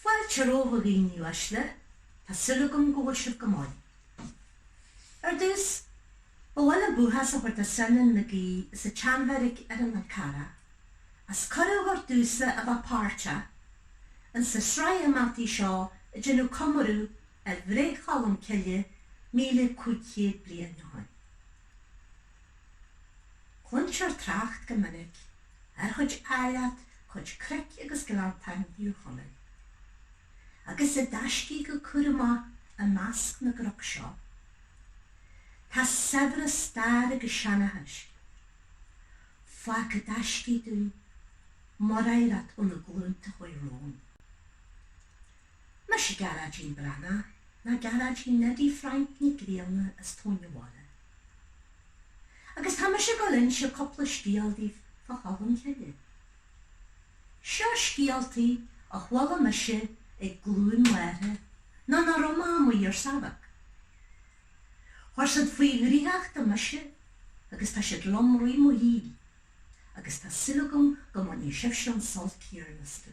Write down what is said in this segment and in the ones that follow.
Fáilte romhaibh a dhaoine uaisle, tá súil agam go bhfuil sibh go maith. Ar dtús, ba mhaith liom buíochas a thabhairt do Seanán Mac Aoidh sa tSeanbheairic ar an Fhál Carrach as cuireadh a thabhairt domhsa a bheith páirteach ins an tsraith imeachtaí seo ag déanamh comóradh ar bhreith Cholm Cille míle cúig chéad bliain ó shin. Cluintear trácht go minic ar chuid áilleacht cuid cnoic agus gleanntáin Thír Chonaill, agus i dtaiscidh go cúramach i measc na gcnoc seo. Tá saibhreas stair agus seanchais fágtha i dtaiscidh dúinn, mar oidhreacht ó na glúnta a chuaigh romhainn. Mise Gearáidín Breathnach, nó Gearáidín Neidí Frainc Nic Grianna as Tóin an Bhaile. Agus tá mise ag gabháil a inse cúpla scéal daoibh fá Cholm Cille. Seo scéaltaí a chuala mise ag glúin m'athara nuair nach raibh mé amuigh ar seabhac. Chuir siad faoi dhraíocht mise agus tá siad liom i rith mo shaoil agus tá súil agam go mbainfidh sibhse an sult céanna astu.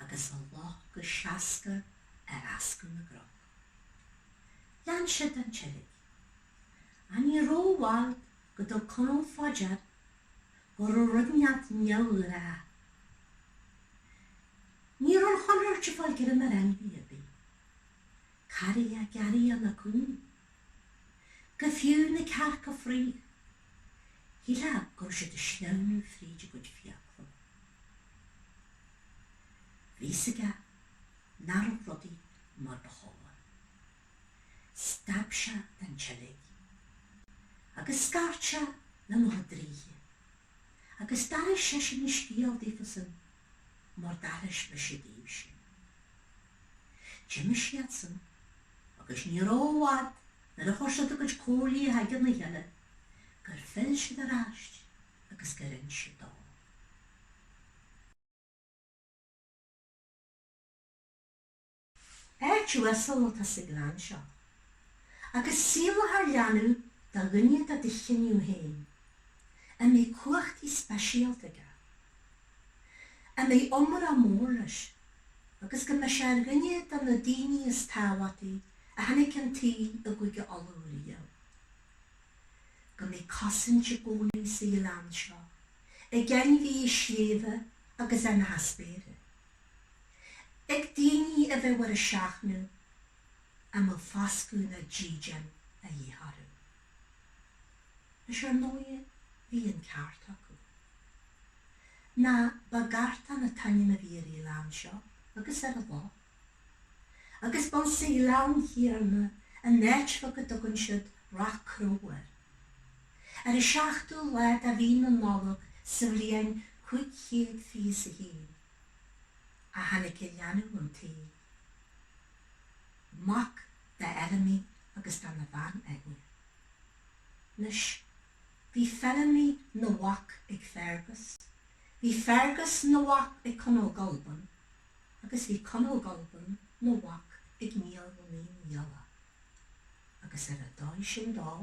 agus a loth go seascair ar fhascadh na gcnoc. Lean siad an tseilg. Ach ní rabh i bhfad go dtug Conall fá dear go raibh rud inteacht cearr. Ní raibh an chonairt ag fáil greim ar ainmhí ar bith. Carria, gearria ná coinín. Go fiú na cearca fraoigh. Shílfeá go raibh siad ag sleamhnú fríd a gcuid fiacla. Bhí a fhios aige nach raibh rudaí mar ba chóir. Stad sé den tseilg agus scairt sé lena chuid draoithe agus d'aithris seisean an scéal daofasan mar d'aithris mise daoibhse. D'imigh siadsan, agus ní raibh i bhfad nuair a chuir siad a gcuid comhairlí in aigne a chéile, gur phill siad ar ais agus gur inis siad dó. Áit uasal atá sa ghleann seo, agus saolófar leanbh ann do dhuine de do chineadh féin, a mbeidh cumhachtaí speisialta aige. a mbeidh iomrá mór leis, agus go mbeidh sé ar dhuine de na daoine is tábhachtaí a tháinig chun an tsaoil i gCúige Uladh riamh. Go mbeidh cosaint i gcónaí sa ghleann seo ag ainmhithe sléibhe agus éin na spéire, ag daoine a bheidh ar a seachnadh, a mbeidh foscadh nó dídean a dhíth orthu. Is ar ndóighe bhí an ceart acu. Nó ba Gartán an t-ainm a bhí ar an ghleann seo agus ar an loch. Agus ba insa ghleann thiar, in áit bheag a dtugann siad Ráth Cró air. Ar an seachtú lá de mhí na Nollag sa bhliain cúig chéad fiche is a haon, a tháinig an leanbh 'un tsaoil. Mac d'Fheilimí agus dena bhean Eithne. Anois, bhí Feilimí 'na mhac ag Feargus, bhí Feargus 'na mhac ag Conall Gulban, agus bhí Conall Gulban 'na mhac ag Niall na Naoi nGialla. Agus ar a' dóigh sin dó,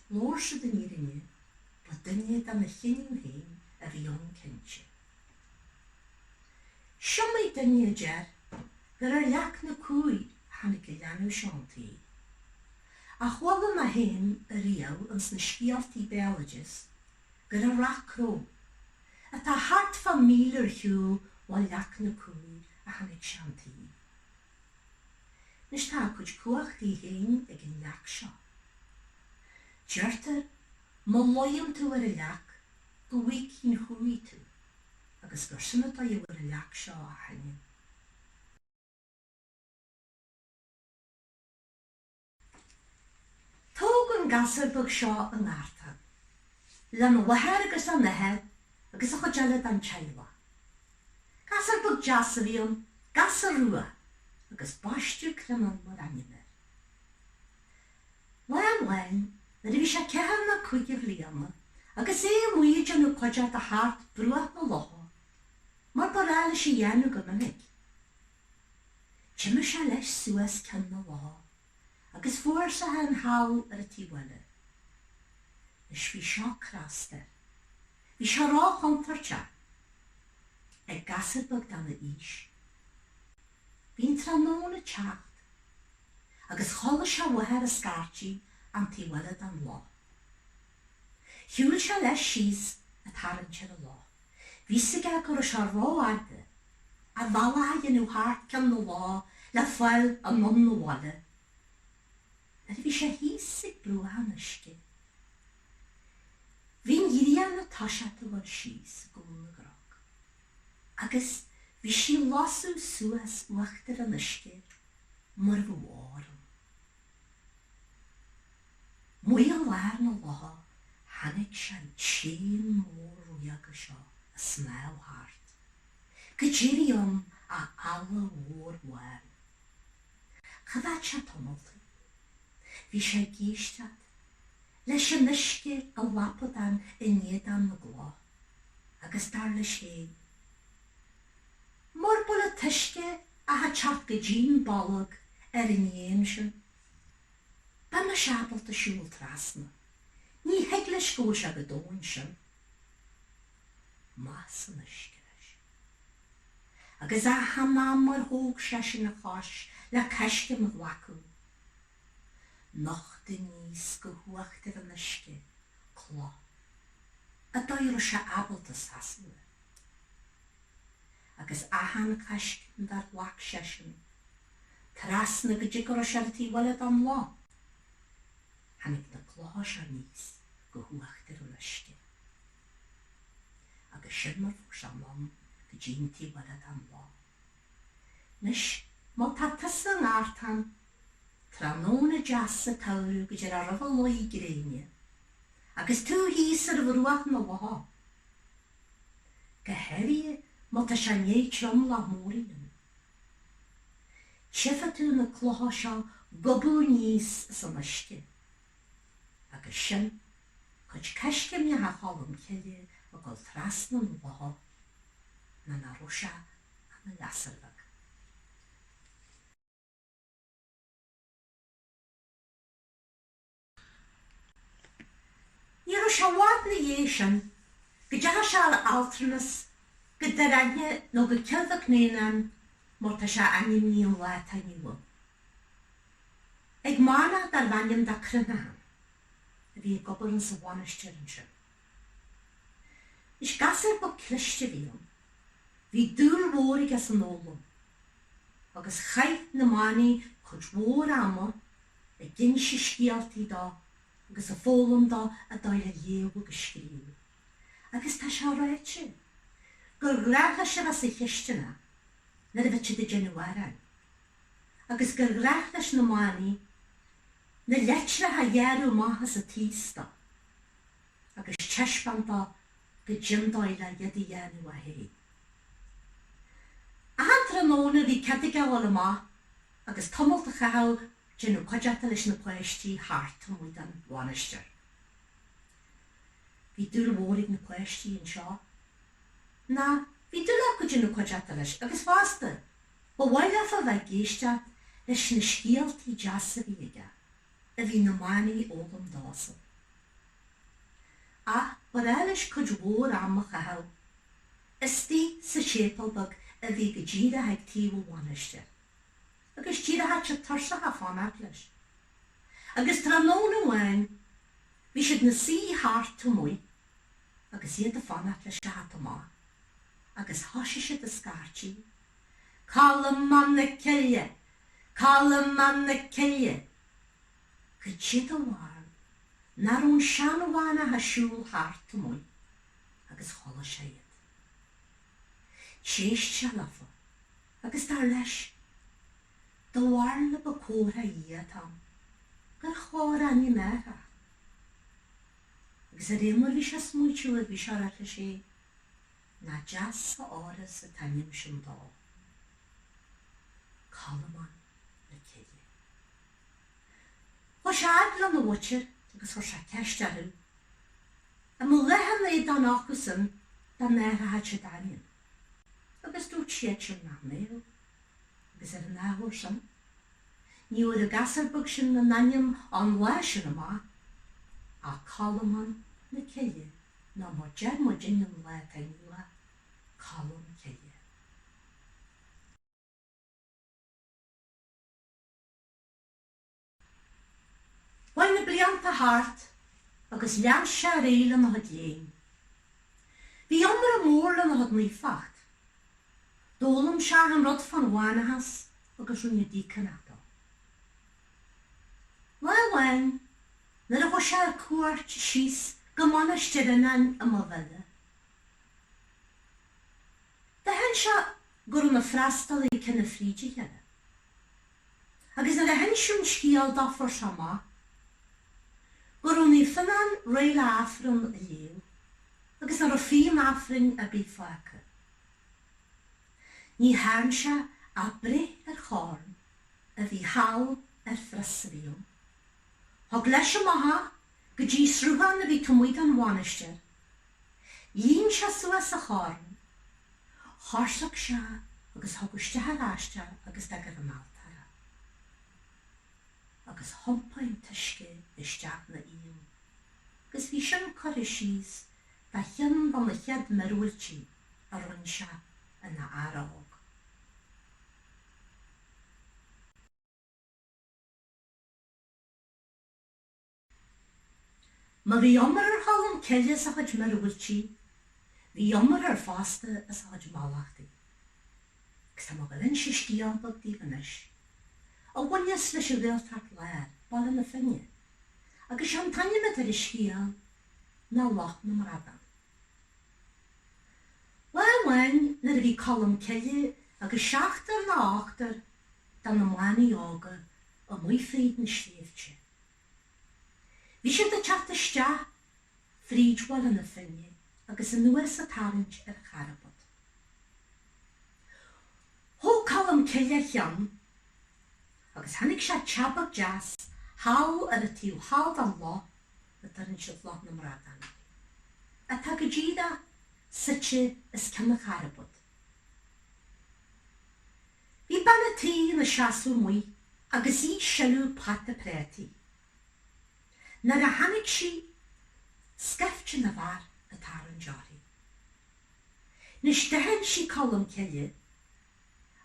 labhair siad an fhírinne, ba duine dena chineadh féin a bhí ann cinnte. Is iomaí duine a deir gur ar leac na cumhaí a tháinig an leanbh seo 'un tsaoil, ach chuala mé féin a riamh ins na scéaltaí béaloideas gur i Ráth Cró, atá thart fá míle ar shiúl ó leac na cumhaí, a tháinig sé 'un tsaoil. Anois, tá a chuid cumhachtaí féin ag an leac seo. Deirtear, má luíonn tú ar an leac, go bhfágfaidh an chumhaí tú agus gur sin an fáth a bhfuair an leac seo a hainm. Ach tógadh an gasúr beag seo i nGartán lena mháthair agus lena athair agus an chuid eile den teaghlach. Gasúr beag deas a bhí ann, gasúr rua, agus baisteadh Criomhthann mar ainm air. Lá amháin, nuair a bhí sé ceathair nó cúig de bhliana, agus é amuigh ag déanamh cuideachta thart bruach na locha, mar ba ghnách leis a dhéanamh go minic, d'imigh sé leis suas cionn na locha agus fuair sé é féin thall ar an taobh eile. Anois, bhí seo crosta air. Bhí sé ró-chontúirteach, ag gasúr beag dá aois. Bhí an tráthnóna ag teacht. agus chuala sé a mháthair ag scairtigh ar an taobh eile den loch. Shiúil sé leis síos ag tarraingt ar an loch. Bhí a fhios aige go raibh sé ró-fhada, a bhealach a dhéanamh thart ceann na locha le fáil anonn 'na bhaile, nuair a bhí sé thíos ag bruach an uisce. Bhí an ghrian toisithe ag dul síos i gcúl na gcnoc, agus bhí sí ag lasadh suas uachtar an uisce mór gorm. Amuigh i lár na locha chonaic sé an t-éan mór ríoga seo ag snámh thart go díreach ann, eala mhór bhán. Choimhéad sé tamalt í, bhí sé ag éisteacht leis an uisce ag lapadán in éadan na gcloch agus dar leis féin, Mur bhfuil an t-uisce ach ag teacht go dtí an bolg ar an éan sin. Bheinnse ábalta siúl trasna. Ní thig leis go bhfuil sé chomh domhain sin. Amach san uisce leis. Agus achan am ar thóg seisean a chos le coiscéim a ghlacadh, nocht aníos go huachtar an uisce cloch an dóigh a raibh sé ábalta seasamh air. agus achan coiscéim dár ghlac seisean trasna go dtí go raibh sé ar an taobh eile den loch, tháinig na clocha seo aníos go huachtar an uisce. Agus sin mar fuair sé anonn go dtí an taobh eile den loch. Anois, má tá tusa i nGartán, tráthnóna deas sa tsamhradh go díreach roimh luí gréine, agus tú thíos ar bhruach na locha, go háirithe má tá sé i ndiaidh triomlach mór a dhéanamh. Tchífidh tú na clocha seo ag gobadh aníos as an uisce, agus sin cuid coiscéimneacha Cholm Cille ag dul trasna na locha, nuair nach raibh sé ach ina ghasúr bheag. Ní raibh sé i bhfad 'na dhéidh sin go dteachaidh sé ar altranas go Doire Eithne nó go Cill Mhic nÉanáin mar tá sé ainmnithe an lá atá inniu ann ag manach darbh ainm dó Cruithneachán a bhí ag obair insa mhainistir ansin. Is gasúr beag cliste a bhí ann. Bhí dúil mhór aige san fhoghlaim, agus chaith na manaigh cuid mhór ama ag inse scéaltaí dó agus ag foghlaim dó an dóigh le léamh agus scríobh. Agus tá sé ráite gur ghnách leis a bheith sa chisteanach nuair a bheadh siad ag déanamh aráin, agus gur ghnách leis na manaigh, na leitreacha a ghearradh amach as an taos dó, agus teispeáint dó goidé an dóigh le iad a dhéanamh é fhéin. Achan tráthnóna bhí cead aige a ghabháil amach agus tamalt a chaitheamh, ag déanamh cuideachta leis na páistí thart amuigh den mhainistir. Bhí dúil mhór ag na páistí anseo, nó bhí dúil acu ag déanamh cuideachta leis, agus fosta, Ba mhaith leofa a bheith ag éisteacht leis na scéaltaí deasa a bhí aige, a bhí na manaigh a fhoghlaim dósan. Ach ba bhreá leis cuid mhór ama a chaitheamh istigh sa séipeal beag a bhí go díreach ag taobh an mhainistir. Agus d'éireochadh siad tuirseach ag fanacht leis. Agus tráthnóna amháin bhí siad ina suí thart amuigh agus iad ag fanacht leis a theacht amach, agus thoisigh siad a scairtigh, Colmán na Cille! Colmán na Cille! Goidé do bharúil nach raibh an seanmhanach ag siúl thart amuigh agus chuala sé iad. D'éist sé leofa agus dar leis, do bharúil an ba comhartha ó Dhia atá ann, gur chóir a ainm a athrach. agus de réir mar a bhí sé ag smaoitiú air, bhí sé ag ráit leis féin, nach deas a fhóireas an t-ainm sin dó. Colmán na Cille. Chuaigh sé fhad lena mhuintir agus chuir sé ceist orthu, an mbeadh lá ina éadan acusan dá n-athróchadh siad a ainm, agus dúirt siadsan nach mbeadh, agus ar an ábhar sin, ní bhfuair an gasúr beag sin aon ainm ón lá sin amach ach Colmán na Cille nó mar deir muidinne an lá atá inniu ann, Colm Cille. Chuaigh na blianta thart agus lean sé ar aghaidh lena chuid léinn. Bhí iomrá mór lena chuid naofacht. D'fhoghlaim sé achan rud fán mhanachas agus rinneadh déagánach de. Lá amháin nuair a chuaigh sé ar cuairt síos go Mainistir Fhionáin i Maigh Bhile, d'aithin sé go raibh na freastalaithe cineál fríd a chéile. agus nuair a hinsíodh an scéal dó fuair sé amach, go raibh Naomh Fionnán réidh le Aifreann a léamh agus nach raibh fíon Aifrinn ar bith fágtha acu, ní thearn sé ach breith ar chorn a bhí thall ar phreasairíum. Thug leis amach é go dtí sruthán a bhí taobh amuigh den mhainistir, Líon sé suas an corn, choisric sé é agus thug isteach ar ais é agus d'fhág ar an altóir é. Agus thiompaigh an t-uisce isteach ina fhíon agus bhí sin curtha síos mar cheann de na chéad míorúiltí a rinn sé ina fhear óg. Má bhí iomrá ar Cholm Cille as a chuid míorúiltí, bhí iomrá air fosta as a chuid mallachtaí. Agus tá mé ag dul a inse scéal beag daoibh anois. A bhaineas leis an Ghaeltacht Láir, Baile na Finne. Agus sé an t-ainm atá ar an scéal ná Loch na mBradán. Lá amháin nuair a bhí Colm Cille agus seachtar nó ochtar de na manaigh óga amuigh fríd na sléibhte, Bhí siad ag teacht isteach fríd Bhaile na Finne agus anuas ag tarraingt ar Charbad. Thóg Colm Cille a cheann agus chonaic sé teach beag deas thall ar an taobh thall den loch a dtabharann siad Loch na mBradán air, atá go díreach suite os cionn an Charbaid. Bhí bean a' tí ina seasamh amuigh agus í ag sileadh pota préataí. Nuair a chonaic sí scaifte na bhfear ag tarraingt uirthi. 'Nois d'aithin sí Colm Cille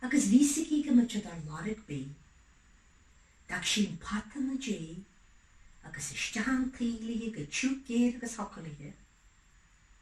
agus bhí a fhios aici go mbeadh siad ar lorg bídh. D'fhag sí an pota 'na diaidh agus isteach chun toí léithi chomh tiubh géar agus thiocfadh léithi.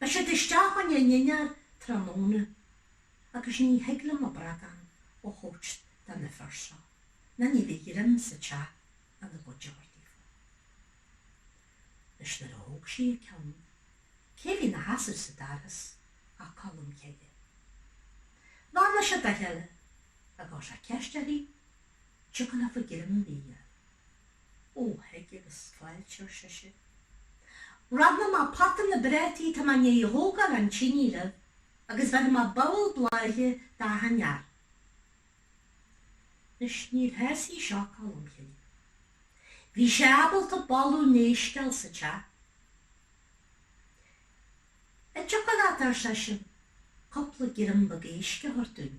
Beidh siad isteach chun a ndinnéar tráthnóna agus ní thig liom an bradán a thabhairt do na fir seo nó ní bheidh greim sa teach ina gcuid árthaí fá choinne. Anois nuair a thóg sí a ceann, cé bhí 'na sheasamh sa doras ach Colm Cille. Bheannaigh siad dá cheile agus chuir sé ceist uirthi, an dtiocfadh leofa greim bídh a. Ó, thig agus fáilte, ar sise. Rannfaidh mé pota na bprátaí tá mé 'ndiaidh thógáil den tinidh libh agus bheirfidh mé babhal bláithe d'achan fhear. Anois, níor shásaigh seo Colm Cille. Bhí sé ábalta boladh an éisc a fháil sa teach. An dtiocfadh leat, ar seisean, cupla greim beag éisc a thabhairt dúinn?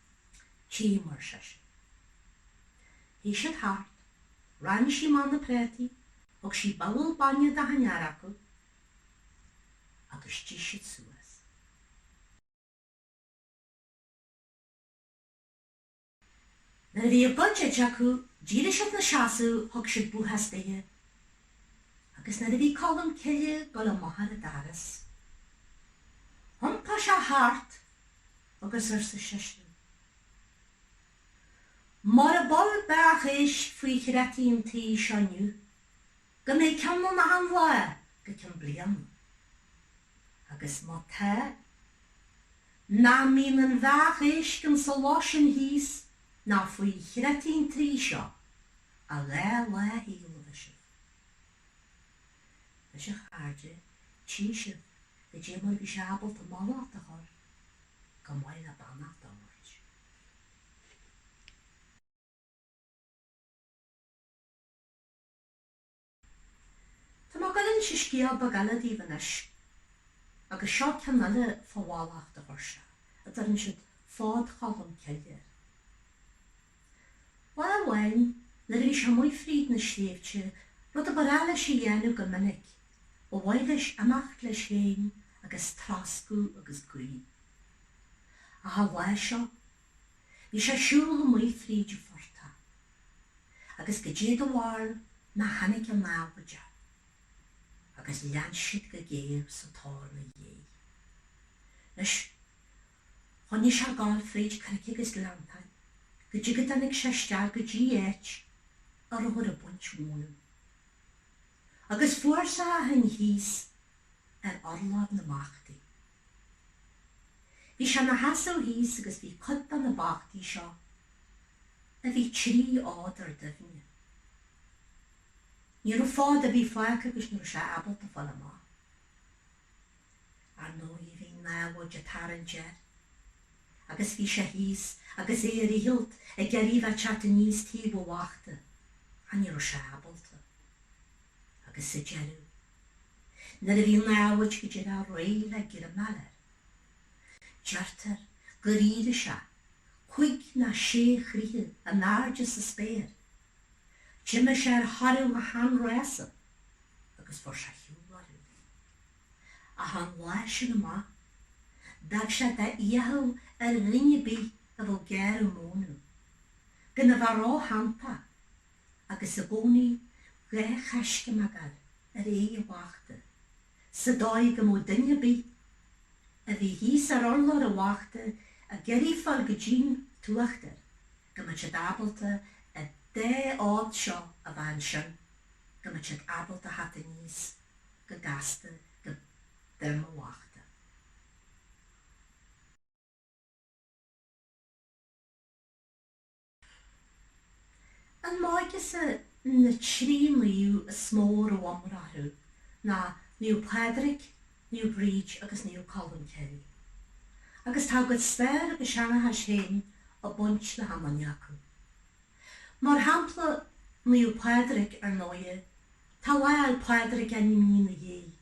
Tchím, ar seisean. Shuigh siad thart, rann sí amach na préataí, thug sí babhal bainne d'achan fhear acu agus d'ith siad suas. Nuair a bhí a gcuid ite acu, d'éirigh siad ina seasamh, thug siad buíochas duithe, agus nuair a bhí Colm Cille ag dul amach ar an doras, thiompaigh sé thart agus arsa seisean, Mura bhfuil beathach éisc faoi chreataí an tí seo inniu, go mbeidh ceann ann achan lá go ceann bliain. Agus má tá, nach mbíonn aon bheathach éisc insa loch sin thíos ná faoi chreataí an tí seo, a dhá lá a éileamh, a Sibh. Anois a chairde tchí sibh caidé mar bhí sé ábalta mallacht a chur chomh maith le beannacht a thabhairt. Tá mé ag gabháil a inse scéal beag eile daoibh anois agus seo ceann eile fá mhallacht a chuir sé, a deireann siad, fád Cholm Cille. Lá amháin, nuair a bhí sé amuigh fríd na sléibhte, rud a ba ghnách leis a dhéanamh go minic, ba mhaith leis imeacht leis fhéin agus troscadh agus guí. Ach an lá seo, bhí sé ag siúl amuigh fríd an phortach, agus caidé do bharúil nach tháinig an namhaid air, agus lean siad go géar sa tóir 'na dhiaidh. Anois, Choinnigh sé ag gabháil fríd cnoic agus gleanntáin go dtí go dtáinig sé isteach go dtí áit a rabhthar ag baint mónadh. Agus fuair sé é féin thíos ar urlár na mbachtaí. Bhí sé ina sheasamh thíos agus bhí cuid de na bachtaí seo, a bhí trí fhód ar doimhne. Ní raibh fód ar bith fágtha agus ní raibh sé ábalta fáil amach. Ar ndóigh bhí an namhaid ag tarraingt air. Agus bhí sé thíos agus é ar a dhícheall ag iarraidh a bheith ag teacht aníos taobh an bhachta, ach ní raibh sé ábalta. Agus sa deireadh, nuair a bhí an namhaid go díreach réidh le greim a fháil air, deirtear gur éirigh sé cúig nó sé troithe in airde sa spéir. D'imigh sé ar thoradh a sheanrása. agus fuair sé ar shiúl orthu. Ach ón lá sin amach, d'fhág sé de fhiacha ar dhuine ar bith a bhfuil ag gearradh mónadh, gan a bheith róshantach agus i gcónaí dhá choiscéim a chur ar aghaidh an bhachta, sa dóigh go mbeadh duine ar bith a bhí thíos ar urlár an bhachta ag iarraidh fáil go dtí'n t-uachtar. go mbeadh siad ábalta an dá áit seo a bhean sin, go mbeadh siad ábalta a theacht aníos go gasta go droim an bhachta. An máigeas i na trí naomh is mó a raibh iomrá orthu ná Naomh Pádraig, Naomh Bríd agus Naomh Colm Cille. Agus tá a gcuid staire agus seanchais féin ag baint le hachan duine acu. Mar shampla, Naomh Pádraig, ar ndóighe, tá Lá Fhéil' Pádraig ainmnithe ina dhiaidh,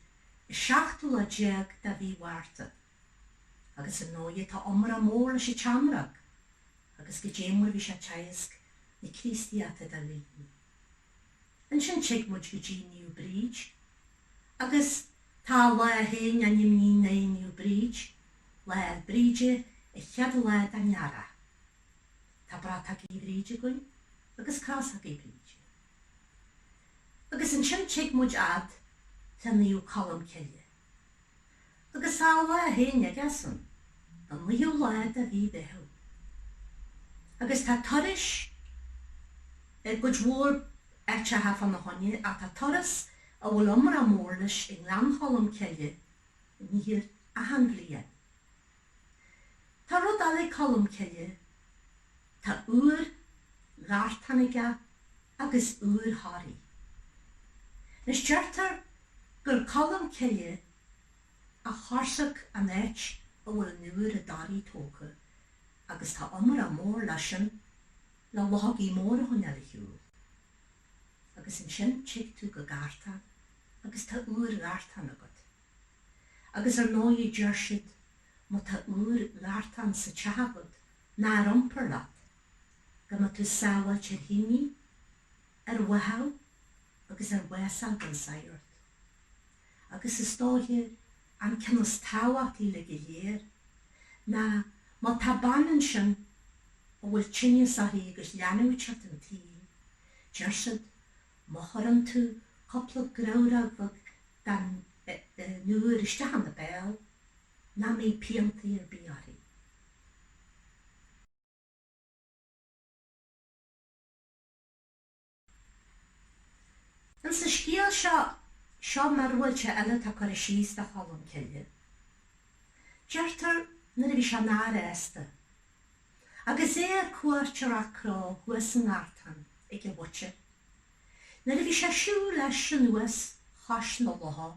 an seachtú lá déag de mhí Mhárta. Agus ar ndóighe tá iomrá mór leis an tseamróg, agus goidé mar a bhí sé ag teagasc na Críostaíochta do dhaoine. Ansin shuigh muid go dtí New Bridge agus tá a lá féin á n-imní né New Bridge, lá ar Bríde, a chéad lá dá ndearadh. Tá brat agaibh Bhríde againn agus cás agaibh Bríde. Agus ansin shuigh muid fhad le naomh Colm Cille. Agus tá a lá féin aigesean, an 9ú lá de mhí Mheithimh. Agus tá turais i gcuid mhór áiteacha fá na choinne, ach tá turas a bhfuil iomrá mór leis i nGleann Cholm Cille thiar achan bhliain. Tá rud eile ag Colmcille, tá úir Ghartáin aige agus úir Thoraí. Anois, deirtear gur Colmcille a choisric an áit a bhfuil an úir i dToraí tógtha agus tá iomrá mór leis sin le luchógaí móra a choinneáil ar shiúl. Agus ansin tig tú go Gartán agus tá úir Ghartáin agat. Agus ar ndóigh deir siad má tá úir Ghartáin sa teach agat, nó ar iompar leat, go mbeidh tú sábháilte ar thinidh, ar bháthadh agus ar bhás a fháil gan sagart. Agus is dóiche an ceann is tábhachtaí uilig go léir ná má tá bean ansin a bhfuil tinneas uirthi agus leanbh ag teacht chun an tsaoil, deir siad má chuireann tú cúpla grabhróg bheag Den úir isteach ina béal, nach mbeidh piantaí ar bith uirthi. Ins an scéal seo, seo míorúilt eile atá curtha síos do Cholm Cille. Deirtear nuair a bhí sé ina fhear aosta, agus é ar cuairt ar Ráth Cnó thuas i nGartán, ag a mhuintir, Nuair a bhí sé ag siúl leis anuas chois na locha,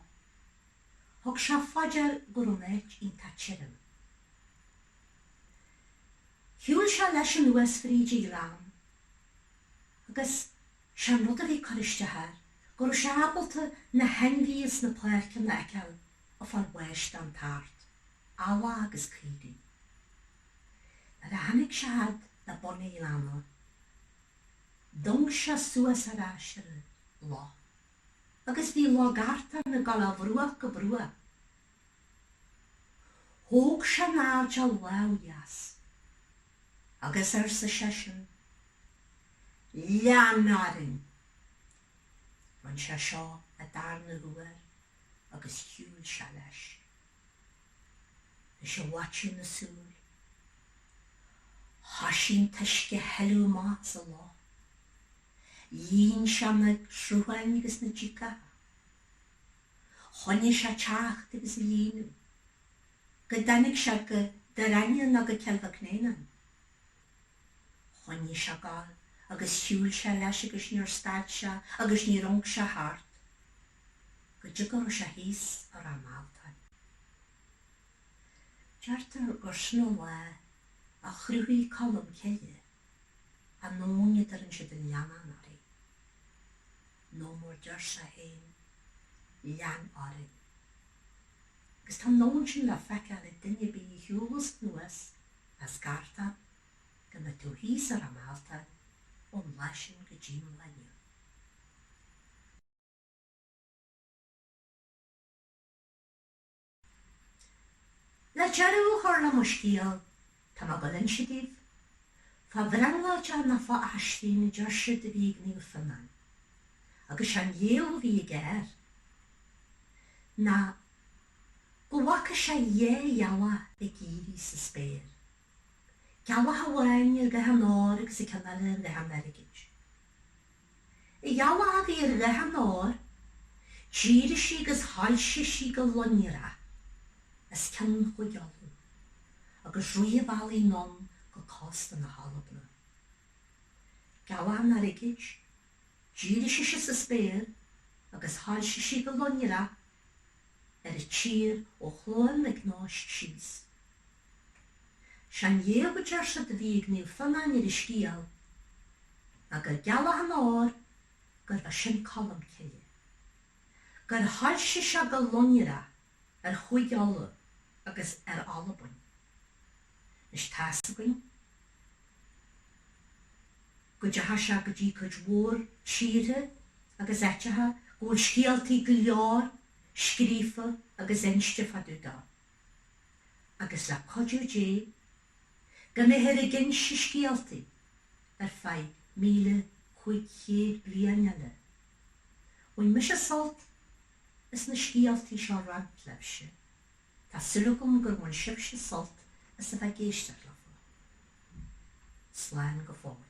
thug sé fá dear go raibh an áit iontach tirim. Shiúil sé leis anuas fríd an ghleann agus sé an rud a bhí ag cur isteach air go raibh sé ábalta na hainmhithe ins na páirceanna a fheiceáil ag fáil bháis den tart, eallach agus caoirigh. Nuair a tháinig sé fhad le bun an ghleanna, D'amhanc sé suas ar ais ar an loch agus bhí Loch Gartáin ag dul ó bhruach go bruach. Thóg sé in airde a lámh dheas agus arsa seisean, Lean orainn! Rinne sé seo an darna huair agus shiúil sé leis. is i bhfaiteadh na súil. Thoisigh an t-uisce a shileadh amach as an loch. Líon sé na srutháin agus na díogacha. Choinnigh sé ag teacht agus ag líonadh go dtáinig sé go Doire Eithne nó go Cill Mhic nÉanáin. Choinnigh sé ag gabháil agus shiúil sé leis agus níor stad sé agus níor amhanc sé thart. go dtí go raibh sé thíos i Ráth Mealtain. Deirtear gur sin an lá a chruthaigh Colm Cille an abhainn a dtabharann siad an Leanainn uirthi, nó mar a deir sé féin, lean orainn. Agus tá an abhainn sin le feiceáil ag duine ar bith a shiúlas anuas as Gartán go mbeidh tú thíos i Ráth Mealtain ón lá sin go dtí an lá inniu. Le deireadh a chur le mo scéal, tá mé ag gabháil a inse daoibh, fá bhrionglóideach nó fá aisling a deir siad a bhí ag Naomh Fionán, agus sé an léamh a bhí aige air ná go bhfaca sé dhá ghealach ag éirí sa spéir, gealach amháin ar dhath an óir agus an ceann eile ar dhath an airgid. An ghealach a bhí ar dhath an óir, d'éirigh sí agus shoilsigh sí go lonrach os cionn Chúige Uladh, agus rith an bhealaigh anonn go cósta na hAlban. Gealach an airgid, d'éirigh sise sa spéir agus shoilsigh sí go lonrach ar an tír ó Chluain Mhic Nóis síos. Sé an léamh a deir siad a bhí ag Naomh Fionán ar an scéal Ná go gealach an óir gurbh é sin Colm Cille Gur shoilsigh sé go lonrach ar Chúige Uladh agus ar Albain Anois tá's againn go dteachaidh sé go dtí cuid mhór tíortha agus áiteacha Go bhfuil scéaltaí go leor scríofa agus inste fá dtaobh dó. agus le cuidiú Dé, go mbeifear ag inse scéaltaí ar feadh míle cúig chéad bliain eile. Bhain mise sult as na scéaltaí seo a roinnt libhse, tá súil agam gur bhain sibhse sult as a bheith ag éisteacht leofa. Slán go fóill.